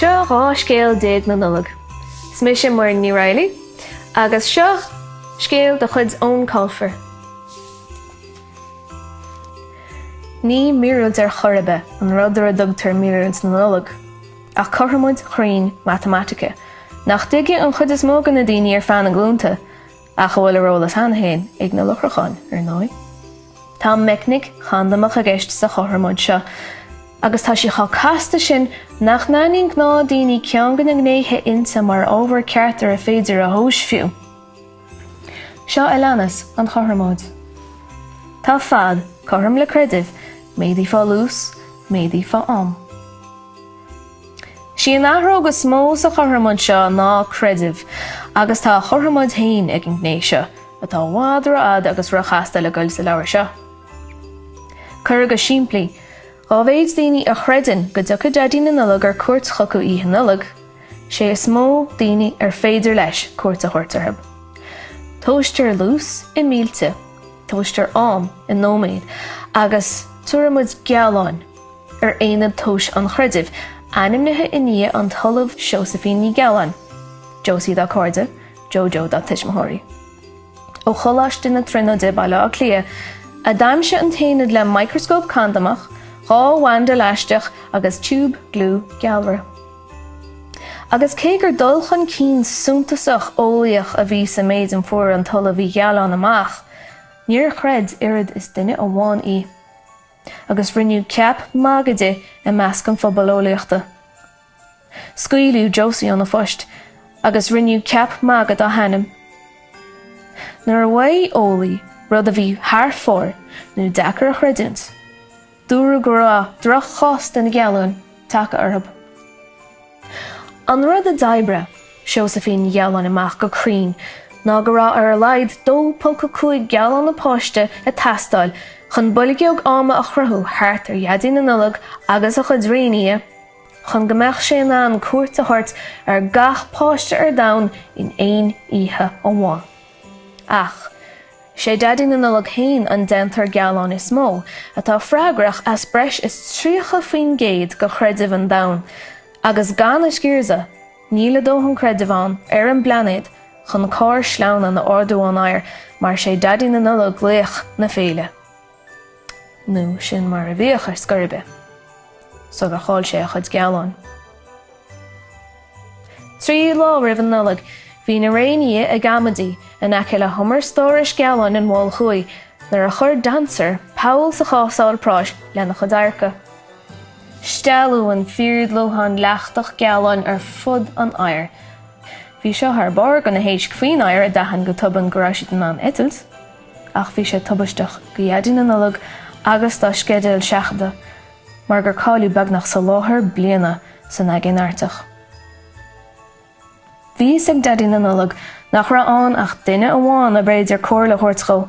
Seo 12 Scéal na Nollag. 'S mise Muireann Ní Raghallaigh agus seo scéal de chuid Eoin Colfer. Ní míorúilt ar chor ar bith an rud ar a dtugtar míorúilt na Nollag. Ach cothromóid chruinn matamaitice, nach dtuigfidh an chuid is mó de na daoine ar feadh na nglúnta, ach a bhfuil ar eolas cheana féin ag na lucharacháin, ar ndóigh. Tá meicnic chandamach i gceist sa chothromóid seo, agus tá sí chomh casta sin nach n-aithníonn gnáthdhaoine ceann de na gnéithe inti mar ábhar ceart ar féidir a thomhas fiú. Seo a leanas an chothromóid. Tá fad cothrom le creideamh, méadaithe faoi luas, méadaithe faoi am. Sí an athróg is mó sa chothromóid seo ná creideamh, agus tá a chothromóid féin ag an gné seo, atá i bhfad rófhada agus róchasta le goil sa leabhar seo. Curtha go simplí, dá mhéad daoine a chreideann go dtiocfaidh Daidí na Nollag ar cuairt chucu Oíche Nollag, sé is mó daoine ar féidir leis cuairt a thabhairt orthu. Tomhaistear luas i mílte, tomhaistear am i nóiméid agus tabharfaimid gealáin ar aonad tomhais an chreidimh, ainmnithe i ndiaidh an tOllamh Seosaimhín Ní Ghealáin, Josie dá cairde, Jojo dá tuismitheoirí. Ó Choláiste na Tríonóide, Baile Átha Cliath, a d'aimsigh an t-aonad le micreascóp candamach, dhá bhanda leaisteach agus tiúb gliú gealra. Agus cé gur dul chun cinn suntasach eolaíoch a bhí sa méid a fuair an tOllamh Ní Ghealáin amach, níor chreid oiread is duine amháin í. Agus rinneadh ceap magaidh di i measc an phobail eolaíochta. Scaoileadh Josie óna post agus rinneadh ceap magaidh dá hainm. Nuair a mhaígh eolaí rud a bhí thar fóir nó deacair a chreidiúint, Dúradh go raibh droch-chás de na gealáin tagtha orthu. An rud a d'oibrigh Seosaimhín Ní Ghealáin amach go cruinn ná go raibh ar a laghad 2.5 gealán an páiste ag teastáil chun boilgeog ama a chruthú thart ar Dhaidí na Nollag agus a chuid réinfhia chun go mbeadh sé in ann cuairt a thabhairt ar gach páiste ar domhan in aon oíche amháin. Ach, 'sé Daidí na Nollag féin an déantóir gealán is mó, atá freagrach as breis is 30% de chreideamh an domhain, agus gan a sciarsan, níl a dóthain creidimh ann ar an bplainéad chun carr sleamhnáin a ardú ón aer mar 'sé Daidí na Nollag laoch na féile. Nó sin mar a bhíodh ar scor ar bith, sular chaill sé a chuid gealáin. Trí lá roimh an Nollaig bhí na réinfhia ag amaidí in aice le humar stórais gealáin an Mhoil Thuaidh nuair a chuir Dancer poll sa chásáil práis lena chuid adharca. Stealladh an fíordhlúthán leachtach gealáin ar fud an oighir. Bhí seo thar barr do na héisc faoin oighear a d'aithin go tobann go raibh siad in ann eitilt. ach bhí sé tubaisteach do Dhaidí na Nollag agus dá sceideal seachadta mar gur cailleadh beagnach soláthar bliana san Aigéan Artach. Bhí a fhios ag Daidí na Nollag nach raibh ann ach duine amháin arbh fhéidir comhairle a thabhairt dhó,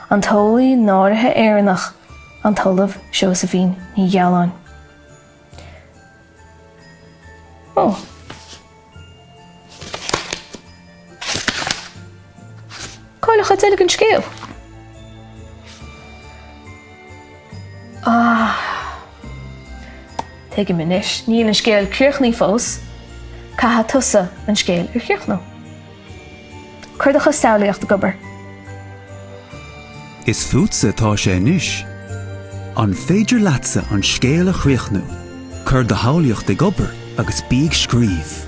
an t-eolaí náirithe Éireannach, an tOllamh Seosaimhín Ní Ghealáin. Cá bhfuil an chuid eile den scéal? Ah. Tuigim anois, níl an scéal críochnaithe fós, caithfidh tusa an scéal a chríochnú. Cuir do chuid samhlaíocht ag obair. Is fútsa atá sé anois. An féidir leatsa an scéal a chríochnú? Cuir do shamhlaíocht ag obair agus bí ag scríobh.